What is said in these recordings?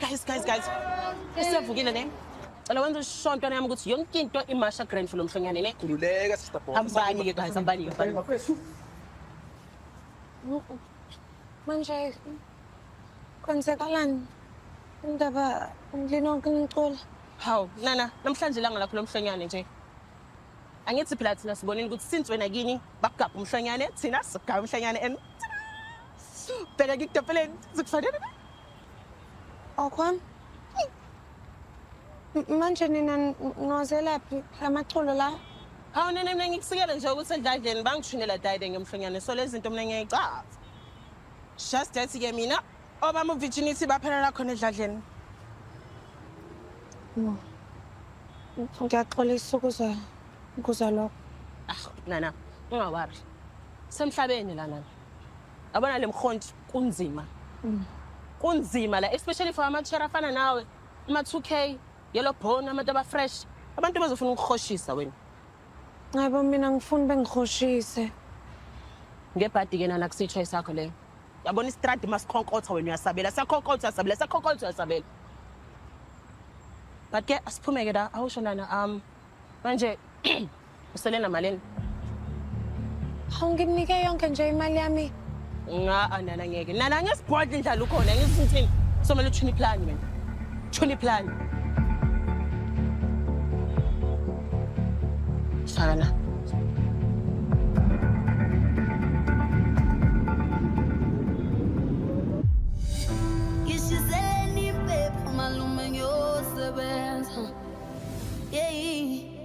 Guys, guys, guys. Isevukile ne? Cela wenza ishontwana yami ukuthi yonke into imasha grand for lo mhlonyane ne? Khululeka sister boss. Hambani ke guys, hambani ke. hambani. Mafethu. Manje kwenzekalani indaba ngilinoke ngicula Hawu, nana, namhlanje ilanga lakho lo mhlonyane nje. Angithi phela thina sibonile ukuthi since wena kini bakugabha umhlonyane thina sigaba umhlonyane and bheka ngikudopeleni zikufanele okwami manje nina nozelaphi la maculo la hawu nina mina ngikusikele nje ukuthi endladleni bangishunela dayide ngemhlonyane so lezi zinto mina ngiyayicaza just that-ke mina Obama uvirginity baphelela khona edladleni. No. Ngiyaxolisa ukuza ukuza lokho. Ah, nana, ungawari. Semhlabeni la nana. Abona lemkhonti kunzima. Mm. Kunzima la especially for amathera afana nawe. Ama 2K, yellow bone, abantu aba fresh. Abantu bazofuna ukuhoshisa wena. Ngabo mina ngifuna bengihoshise. Ngebhadi ke nana kusitsho isakho leyo. Yabona istradi masikhonkotha wena uyasabela. Sakhonkotha uyasabela, sakhonkotha uyasabela. But ke asiphume ke la awusho nana um manje usele namalini? Hawu ngimnike yonke nje imali yami. ngaa nana ngeke nana ngesibhodla indlala ukhona ngisithini somele uthuna iplani wena thuna iplani sana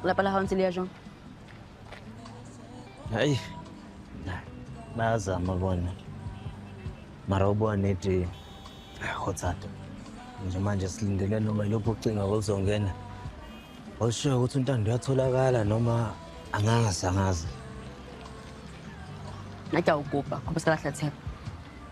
Wala pala akong silyasyong. Ay, nazama bona mara ubona eti hotsata nje manje silindele noma ilokhu ucinga oluzongena olushiyo ukuthi untando uyatholakala noma angazi angazi Naja ugupa, kuba sikalahlatheka.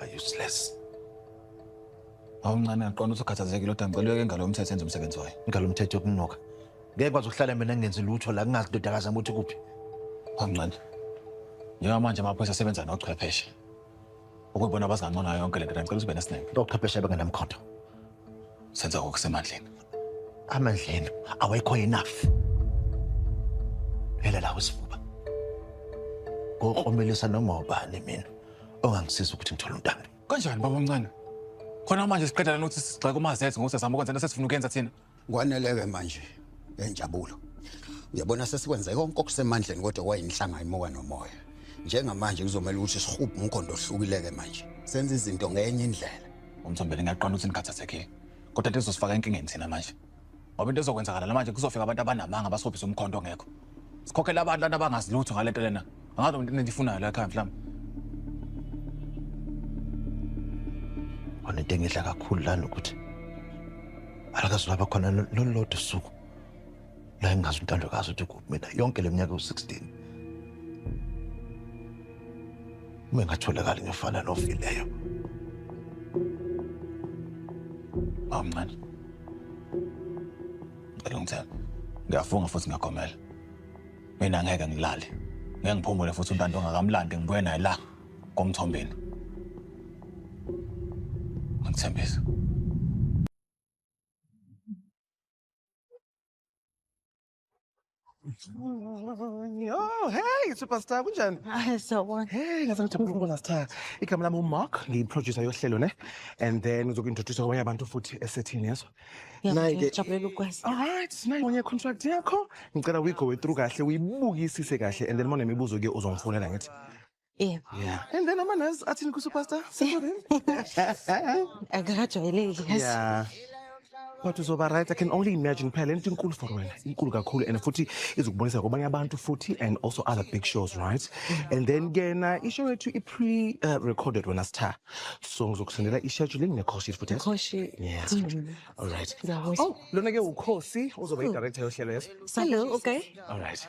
are useless awuncane aqonda ukuthi ukhathazekile kodwa ngicela uyeke ngalo mthetho enze umsebenzi wayo ngalo mthetho yokunuka ngeke kwazi ukuhlala mina ngingenzi lutho la kungazi ndodakazi yami ukuthi kuphi awuncane njengamanje amaphoyisa asebenza nochwepheshe ukuyibona abazingangconayo yonke le nto ngicela uzibe nesineke ochwepheshe bengenamkhondo senza okusemandleni amandleni awekho enough phela la usifuba ngokromelisa noma ubani mina ongangisiza ukuthi ngithole untando kanjani baba omncane khona manje siqeda lana ukuthi sigxeke umazethe ngokuthi azama ukwenza into sesifuna ukuyenza thina kwaneleke manje enjabulo uyabona sesikwenze konke okusemandleni kodwa kwayinhlanga imoka nomoya njengamanje kuzomela ukuthi sihubhe umkhondo ohlukileke manje senza izinto ngenye indlela umthombeni ngiyaqonda ukuthi nikhathathekile kodwa into ezosifaka enkingeni thina manje ngoba into ezokwenzakala la manje kuzofika abantu abanamanga basophise umkhonto ongekho sikhokhela abantu lana abangazi lutho ngale nto lena angazi loo nto into endiyifunayo la ekhaya mhlawumbe onento engidla kakhulu lana ukuthi alakazi laba khona lolulodwa usuku la engazi untandokazi ukuthi kuphi mina yonke le minyaka ewu-16 uma engatholakali ngefana nofileyo bawumncane ngicela ungithela ngiyafunga futhi ngiyagomela mina ngeke ngilale ngeke ngiphumule futhi untando ongakamlandi ngibuye naye la komthombeni ngithembisa Oh, hey superstar kunjani? Hayi sawubona. Hey ngaze ngijabule ukubona Star. Igama lami uMark, ngiyiproducer yohlelo ne. And then ngizokuintroduce kwabanye abantu futhi esethini yeso. Nayi ke Ngijabulela ukwazi. All right, nayi ngonye contract yakho. Ngicela uyigowe through kahle, uyibukisise kahle and then mona imibuzo ke uzongifonela ngithi. Yebo. Yeah. And then ama nurse athini ku superstar? Sekurin. Akakajwayeleki yazi. Yeah. But uzoba right, I can only imagine phela lento inkulu for wena, inkulu kakhulu and futhi izokubonisa kwabanye abantu futhi and also other big shows, right? And then kena ishow yethu i pre uh, recorded wena sitha. So ngizokusendela i schedule ngine call sheet futhi. Khoshi. Yeah. All right. Ngiyabonga. Oh, lona ke ukhosi uzoba i director yohlelo yes. Hello, okay. All right.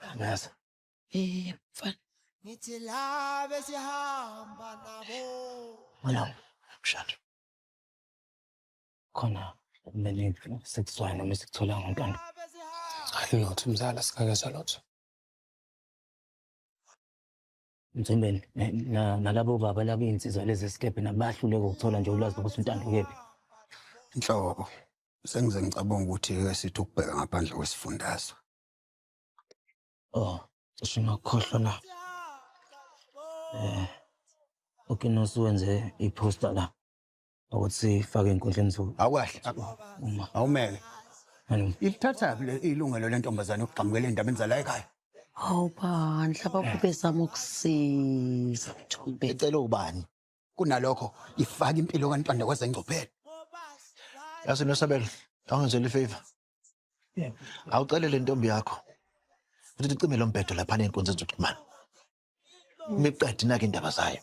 Angazi. Eh, mfana. Ngithi la besihamba nabo. Wala, mshado. Khona kumele sekuzoya noma sikuthola ngontwana. Hayi lutho mzala singakeza lutho. Mthembeni nalabo baba labo insizwa lezi sikebhe nabahluleka ukuthola nje ulwazi ukuthi untando kephi. Inhloko. Sengize ngicabanga ukuthi ke sithi ukubheka ngaphandle kwesifundazwe. Oh, cishe ngakukhohlwa na. Eh. UKinos wenze i-posta la ukuthi sifake enkundleni zoku. Awukahle. Uma Awumele. Manje, Ilithatha le ilungelo lentombazane ukugxamukela endabeni zala ekhaya. Hawu bandla bakube zama ukusiza Mthombeni. Ecela ubani? kunalokho ifaka impilo kaNtwande kwezengcuphelo yazi nosabelo awungenzeli ifavor awucele le ntombi yakho ukuthi icime lo mbhedo lapha ney'nkundza zokuxhumana imiqedi nake indaba zayo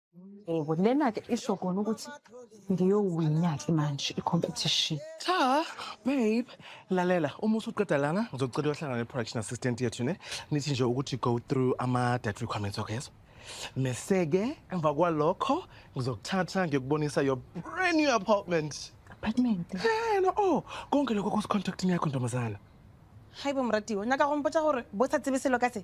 Yebo, lena-ke isho kona ukuthi ngiyowina-ke manje i-competition. Cha, babe, lalela uma usuqeda lana ngizocela uyohlangana ne-production assistant yethu ne nithi nje ukuthi go through ama-dat requirements wakho yezo mese-ke emva kwalokho ngizokuthatha ngiyokubonisa your brand new apartment Apartment. ena o oh, konke lokho kusecontractini yakho ntombazana Haibo moratiwa, nyaka go mpotsa gore bo sa tsebe selo ka se.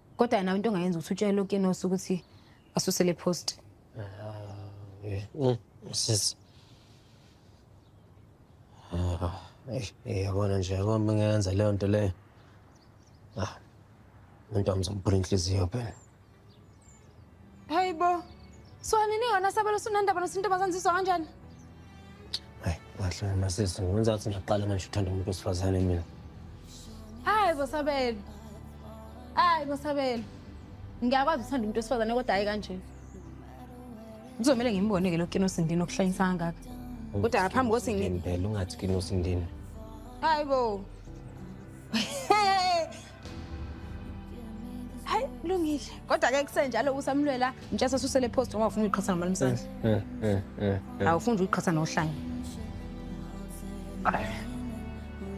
kodwa yena into ongayenza ukuthi utshele ukinos ukuthi asuse le post sis yabona nje yabo uma ngenza leyo nto leyo ah umuntu wami zomphula inhliziyo phela Hayi bo. So nini yona sabelo sunanda bana sinto bazanziswa kanjani? Hayi, wahlala masisi, ngenza ukuthi ngaqala manje uthanda umuntu wesifazane mina. Hayi bo sabelo. Hayi bo sabelo. Ngiyakwazi uthanda umuntu wesifazane kodwa hayi kanje. Kuzomela ngimbone ke lokho inosindini okuhlanyisa kangaka. Kodwa ngaphambi kokuthi ngi Ngempela ungathi kinosindini. Hayi bo. hayi kulungile kodwa ke kusenjalo kusamlwela mtshesa susele post ngoba ufuna uyiqhatha nomalumsana Eh, eh, eh, eh. awufuni uyiqhatha nohlanya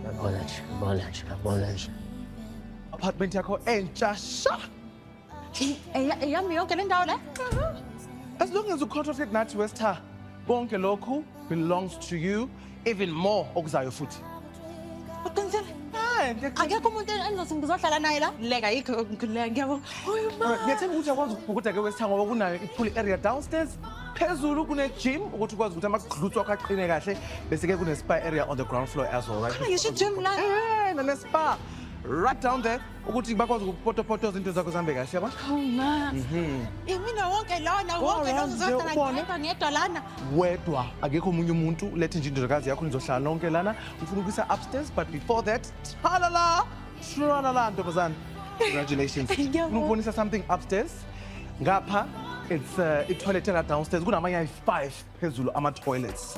Yabona nje, yabona nje, yabona nje. apartment yakho entsha sha eyami yonke le ndawo le as long as ucontract with nathi westha konke lokhu belongs to you even more okuzayo futhi uqinisile akekho umuntu engizothi ngizohlala naye la leka yikho ngileka ngiyabo ngiyathemba ukuthi akwazi ukubhukuda ke westha ngoba kunayo i-pool area downstairs phezulu kune-gym ukuthi ukwazi ukuthi amagluts wakho aqine kahle bese-ke kune-spa area on the ground floor as well right? ngisho i-gym la eh, nane-spa right down there ukuthi bakwazi ukupotopoto izinto zakho zihambe kahle yabo hawu ma mhm. imina wonke lona wonke lozozodala ngedwa lana wedwa akekho omunye umuntu lethe nje indodakazi yakho nizohlala nonke lana ngifuna ukuyisa upstairs but before that thalala shuralala ntombazane congratulations ngikubonisa something upstairs ngapha it's uh, itoilet ela downstairs kunamanye ayi-five phezulu ama-toilets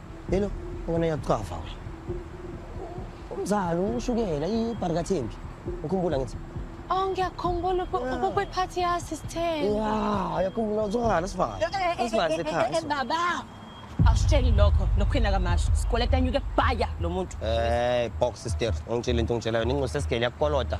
Hello, wena uyakuchafa wena. Umzalo ushukela ibharikathembi. Ukhumbula ngithi. Oh ngiyakhumbula ukube party ya sister. Yeah, uyakhumbula uzwakala sifaka. Sifaka ekhaya. Baba. Awusitsheli lokho lokhwina kamasho. Sikoleta nyuke baya lo muntu. Eh, box sister. Ungitshela into ongitshelayo ningosesigele yakukoloda.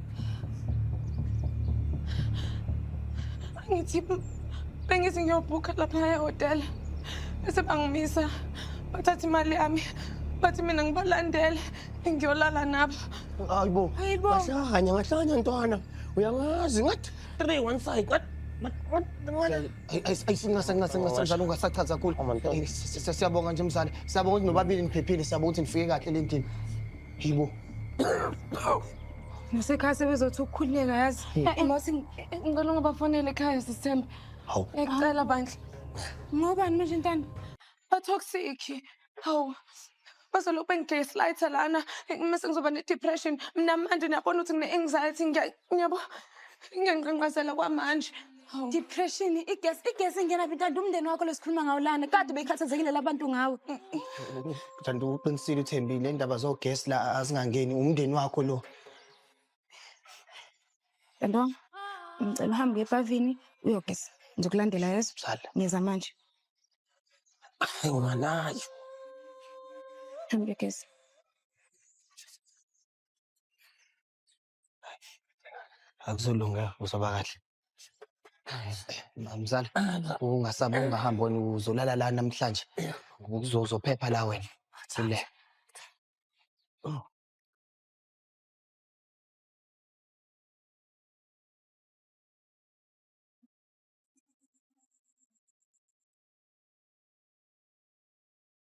Angithi bengithi ngiyobhukha lapha ehhotela bese bangimisa bathatha imali yami bathi mina ngibalandele ngiyolala nabo hayibo Hayibo. ngahlanya ngahlanya ntwana uyangazi ngathi three one side ngathi ayisincasancasancasanjalo ungasachaza kakhulu Amantombazane. Eh, si- si- siyabonga nje mzane siyabonga ukuthi nobabili niphephile siyabonga ukuthi nifike kahle le ndini Yibo. Ngisekhaya sebezothi ukukhululeka yazi. Mose ngicela ungabafonele ekhaya sisithembe. Hawu. Ngicela bandla. Ngobani manje ntana? Ba toxic. Hawu. Bazolokhu bengiglayisa light lana. Mase ngizoba ne depression. Mina manje niyabona ukuthi ngine anxiety ngiyabo. Ngiyanqanqazela kwamanje. Hawu. Depression, igesi, igesi ingena phi kanti umndeni wakho lesikhuluma ngawo lana. Kade bekhathazekile labantu ngawe. Kanti uqinisile uThembile indaba zogesi la azingangeni umndeni wakho lo. Kanto, ngicela uhambe uye epavini uyogeza. Ngizokulandela yeso. Sala. Ngiza manje. Hayi nganayo. Hambe uyogeza. Akuzolunga uzoba kahle. Mzala, ungasaba ungahambi wena uzolala la namhlanje. Uzozophepha la wena. Sile.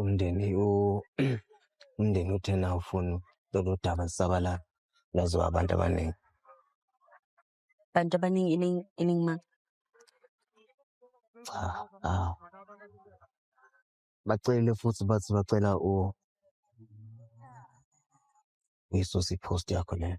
umndeni umndeni uthena ufuna lolu daba zisabalala laziwa abantu abaningi abantu abaningi iningi ma cha awu bacele futhi bathi bacela u uyisuse ipost yakho leyo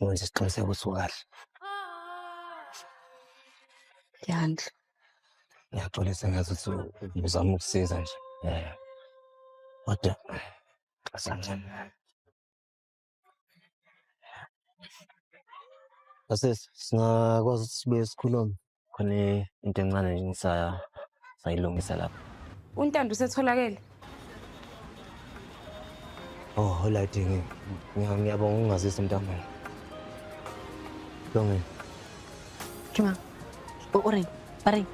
wenze isiqiniseko ukuthi ukahle yandla ngiyaxolisa ngathi ukuthi ngizama ukusiza nje eh, kodwa asancane Asesi, singakwazi ukuthi sibuye sikhulume. khona into encane nje ngisaya sayilungisa lapha untando usetholakele oh holright ngiyabonga ungazisa mntanami longeni Juma. O Oreng, Bareng.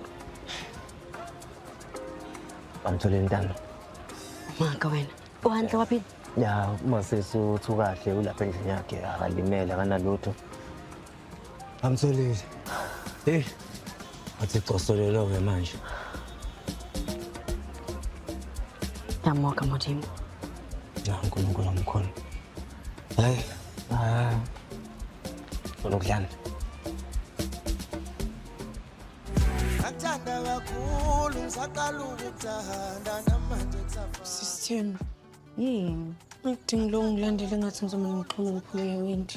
Bamtholeni ntando. Maka wena. Uhantle waphila? Ya, uma sesuthu kahle ulapha endlini yakhe akalimele akanalutho. Amtholile. Hey. Athi cosolelo ke manje. Yamoka Modimo. Ya uNkulunkulu omkhulu. Hayi. Ah. Lokudlana. Ngathanda kakhulu ngisaqala ukuthanda namanje kusafana. Sisithembu. Yini? Ngidinga lo ngilandele ngathi ngizomane ngixhume ngiphuleke windi.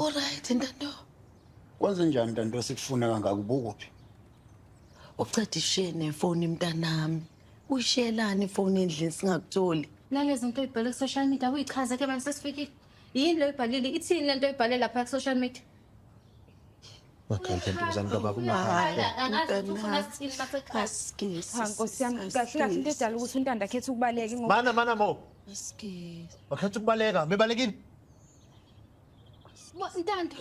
Alright ntanto. Kwenze njani ntanto esikufuna kangaka ubukuphi? Ucede ishiye nefoni mntanami. Uyishiyelani ifoni endlini singakutholi? Nalezi nto ibhale ku-social media uyichaze ke manje sesifikile. Yini lo ibhalile? Ithini le nto ibhale lapha ku-social media? Makantantombazane kababa ungahamba. Cha nkosi yami kahle kahle into edala ukuthi untanda akhethe ukubaleka ngoba Mana mana mo. Askies. Wakhetha ukubaleka, mebalekile. Ntando,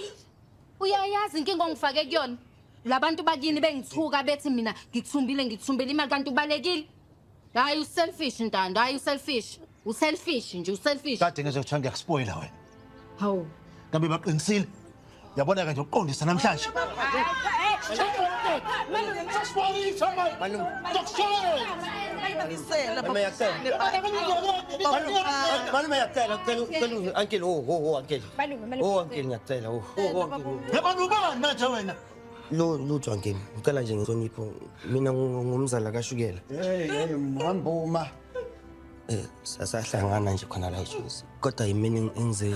uyayazi inkinga ongifake kuyona. Labantu bakini bengithuka bethi mina ngithumbile ngithumbile imali kanti ubalekile. Hayi uselfish Ntando, hayi uselfish. Uselfish nje uselfish. Kade ngizokuthiwa ngiyakuspoila wena. Hawu. Ngabe baqinisile? Yabona kanje uqondisa namhlanje. Malume yacela cela cela uncle oh oh uncle. Oh uncle ngiyacela oh oh uncle. Yabona ubani manje wena? Lo lutho uncle ngicela nje ngihlonipho mina ngumzala kashukela. Hey hey mhamba uma. Eh sasahlangana nje khona la eJozi. Kodwa yimina engize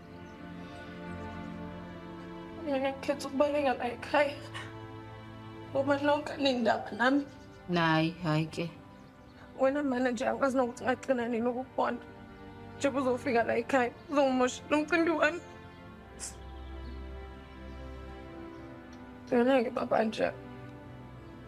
Mina ngikhetha ukubaleka la ekhaya. Ngoba lonke lindaba nami. Nayi, hayi ke. Wena mana nje akwazi nokuthi ngagcina nini ukukubona. Njengoba uzofika la ekhaya, uzongimosha lo mcimbi wami. Ngeke baba nje.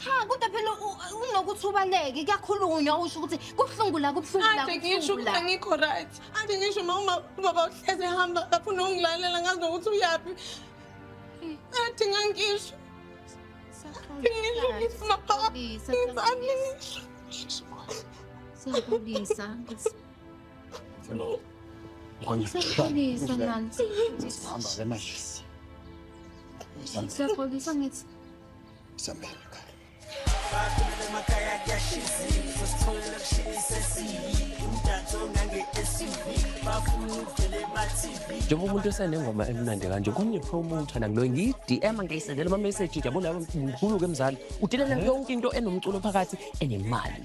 Cha kodwa phela unokuthi ubaleke kuyakhulunywa usho ukuthi kubuhlungu la kubuhlungu la. Ade ngisho ukuthi angikho right. Ade ngisho mama baba uhleze hamba afuna ungilalela ngazi nokuthi uyaphi. Ade ngangisho. Siyaxolisa. Hello. Siyaxolisa nani. Hamba ke manje. Siyaxolisa ngithi Sambela ekhaya. Bakhulele emakhaya kuyashiziwe sositholela kushini sesiyi umdanso ngange-SUV bafuna ukuvela ema-TV njengoba umuntu esenengoma emnandi kanje kungiphe umuntu ana ngiloyo ngiyi-dm ngiyisendela ama-message nje yabona mkhulu-ke mzali udelela yonke into enomculo phakathi enemali